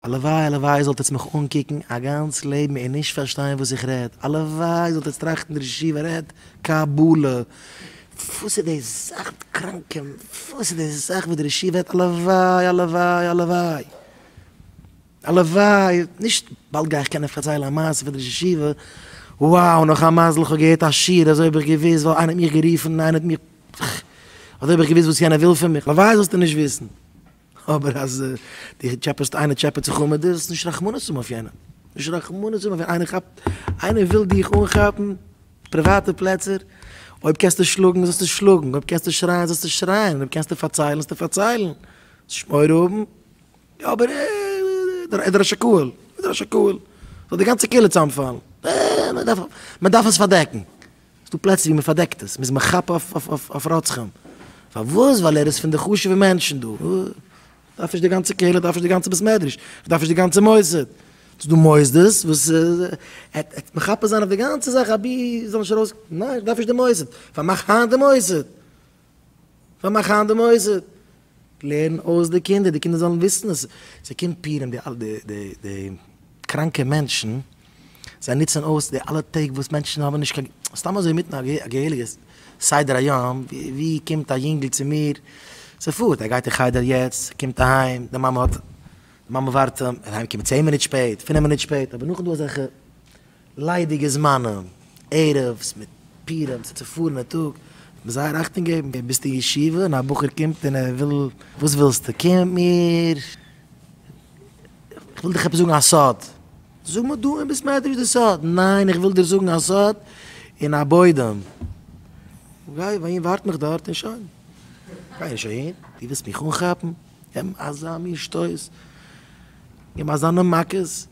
הלוואי הלוואי איר זאלט עטס מיך אנקוקן א גאנץ לעבן און נישט פארשטיין וואס איך רעד, הלוואי איר זאלט עטס טראכטן דער ישיבה רעדט קבלה, וואס איז די זאך די קראנקע, וואס איז די זאך וואס דער ישיבה רעדט, הלוואי הלוואי הלוואי הלוואי, נישט באלד גיי איך קענען פארציילן א מעשה פון דער ישיבה, וואו נאך א מזל איך האב געהערט א שיעור אזוי האב איך געוואוסט וואו איינער האט מיך גערופן איינער האט מיך אזוי האב איך געוואוסט וואס יענער וויל פון מיך, הלוואי זאלסטו נישט וויסן. אבער אז דו טשעפעסט איינער טשעפעט זיך אן מיט דיר, זאלסטו נישט רחמנות האבן אויף יענעם, נישט רחמנות האבן אויף יענעם, איינער כאפט, איינער וויל דיך אנכאפן, פריוואטע פלעצער, אויב קענסטו שלאגן זאלסטו שלאגן, אויב קענסטו שרייען זאלסטו שרייען, אויב קענסטו פארציילן זאלסטו פארציילן, זאלסט נישט מורא האבן, יא אבער ער איז ראש הקהל, ער איז ראש הקהל, זאל די גאנצע קהילה צוזאמפאלן, מען דארף עס פארדעקן, ס'איז דא פלעצער ווי מ'פארדעקט עס, מ'איז מכפר אויף רוצחים. פארוואס? ווייל ער איז פון די חשוב'ע מענטשן דא. כ'דארף נישט די גאנצע קהילה, כ'דארף נישט די גאנצע בית מדרש, כ'דארף נישט די גאנצע מוסד. ס'איז דא מוסדות וואס מכפר זיין אויף די גאנצע זאך אבי זאל נישט ארויס, ניין כ'דארף נישט די מוסד, פארמאך היינט די מוסד. פארמאך היינט די מוסד, לערן אויס די קינדער, די קינדער זאלן וויסן אז זיי קומט פירן די אלע די קראנקע מענטשן, זיי נוצן אויס די אלע טעג וואס מענטשן האבן נישט קיין, סתם אזוי אינמיטן א געהעריגע סדר היום, ווי קומט א יונגל צו מיר, ס'פארט, ער גייט אין חדר יעצט, ער קומט אהיים, די מאמע האט, די מאמע ווארט אים, און אהיים קומען צען מינוט שפעט, פינף מינוט שפעט, אבער נאכדעם דא אזעלכע. ליידיגע זמנים, ערב'ס מיט פורים צו צופארענע טאג, דארף מען זייער אכטונג געבן, געב ביסט אין ישיבה און א בחור קומט און ער וויל, וואס ווילסטו, קום מיר, כ'וויל דיך עפעס זאגן א סוד, זאג מיר דא אין בית מדרש די סוד, ניין איך וויל דיר זאגן א סוד אין א בוידעם, גיי אהין ווארט מיך דארט און שוין, גיי נישט אהין, דו ווילסט מיך אנכאפן, געבן אזא מין שטויס, געבן אזאנע מכות.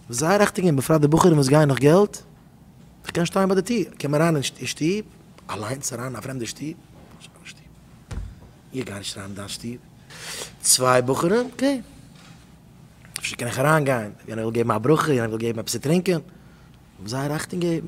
זיי ריכטיג און בפרט די בחורים וואס גייען נאך געלט, איך קען שטיין ביי די טיר, קום אריין אין שטוב, אליינס אריין אין א פרעמדע שטוב, איך גיי נישט אריין אין דיין שטוב, צוויי בחורים, קעי, אפשר קען איך אריין גיין, יענער וויל געבן א ברכה, יענער וויל געבן עפעס צו טרינקען, זיי ריכטיג געבן.